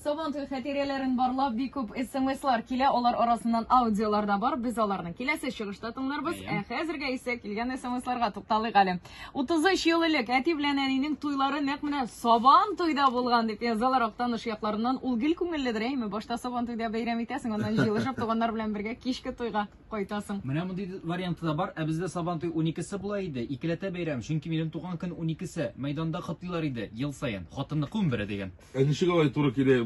Сабан туе хатирәләрен барлап бик күп смслар килә, алар арасыннан аудиолар да бар. Без аларны киләсе чыгышта тыңларбыз. Ә хәзергә исә килгән смсларга тукталыйк әле. 33 ел элек әти белән әнинең туйлары нәкъ менә Сабан туйда булган дип язалар Актаныш якларыннан. Ул гел күңелледер, әйме? Башта Сабан туйда бәйрәм итәсең, аннан җыелышып туганнар белән бергә кичке туйга кайтасың. Менә мондый варианты да бар. Ә бездә Сабан туй 12-се була иде. Икеләтә бәйрәм, чөнки минем туган көн 12-се. Мәйданда котлыйлар иде ел саен. Хатынны күмбере дигән. Ә ничек алай туры килә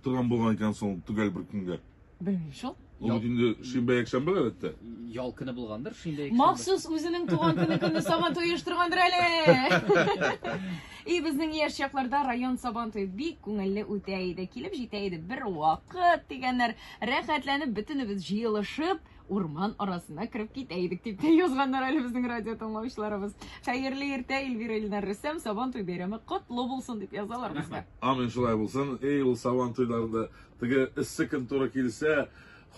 торган булган икән соң төгәл бер көнгә? Белмим шул. Ул бит инде шимбә-якшәмбе, гадәттә. Ял көне булгандыр, шимбә-якшәмбе. Махсус үзенең туган көне көнне Сабантуй оештыргандыр әле! И, безнең яшь чакларда район Сабантуе бик күңелле үтә иде. Килеп җитә иде бер вакыт, дигәннәр, рәхәтләнеп бөтенебез җыелышып, урман арасына кереп китә идек, дип тә язганнар әле безнең радио тыңлаучыларыбыз. Хәерле иртә, Эльвира Ильнар Рөстәм, Сабан туй бәйрәме котлы булсын дип язалар безгә. Амин, шулай булсын. Эй, ул Сабан туйларында теге эссе көн туры килсә,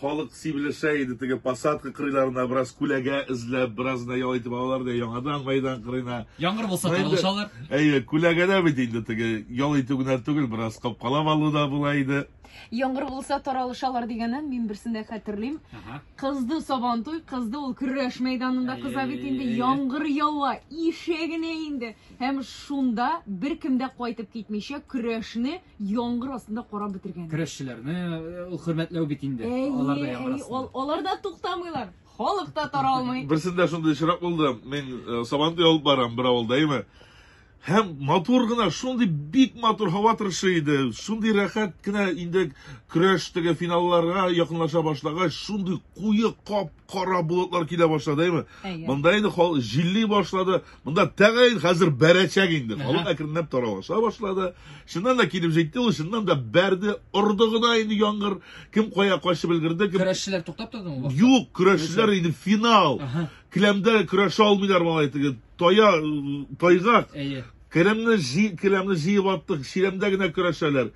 халык сибелешә иде теге посадка кырыйларына бераз күләгә эзләп, бераз да ял итеп алалар да яңадан мәйдан кырыйна. Яңгыр булса таралышалар. Әйе, күләгәдә бит инде теге ял итү генә түгел, бераз капкалап алу да була иде. Яңгыр булса таралышалар дигәнне мин берсен дә хәтерлим. Ага. Кызды Сабантуй, кызды ул көрәш мәйданында кыза бит инде яңгыр ява, ишегенә инде. Һәм шунда бер кем дә кайтып китмичә көрәшне яңгыр астында карап бетергән. Көрәшчеләрне э, ул хөрмәтләү бит инде. Алар да яңгыр астында. Алар да туктамыйлар. Халык та таралмый. Берсендә шундый очрак булды. Мин э, Сабантуй алып барам бер авылда, әйме? Һәм матур гына, шундый бик матур һава торышы иде, шундый рәхәт кенә инде көрәш теге финалларга якынлаша башлагач, шундый куе кап-кара болытлар килә башлады, әйме? Монда инде хал җилли башлады. Монда тәгаен хәзер бәрәчәк инде. Халык әкренләп таралыша башлады. Чыннан да килеп җитте ул, чыннан да бәрде, орды гына инде яңгыр. Кем кая качып өлгерде, кем Көрәшчеләр туктап тордымы? Юк, көрәшчеләр инде финал. Келәмдә көрәшә алмыйлар малай теге Тая, тайгак. Әйе. Келәмне җи, келәмне җыеп аттык, чиләмдә генә көрәшәләр.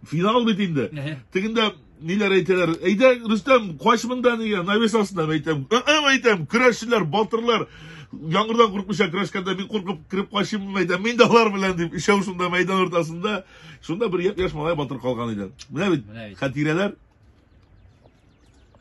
Финал бит инде. Тегендә ниләр әйтәләр? Әйдә, Рөстәм, кач монда нигә? Навес астына әйтәм. Әм әйтәм, көрәшчеләр, батырлар. Яңгырдан куркмыйча көрәшкәндә мин куркып кереп качыйм мәйдан. Мин дә алар белән дип, ишәү шунда мәйдан уртасында. Шунда бер яшь малай батыр калган иде. Менә бит хәтирәләр.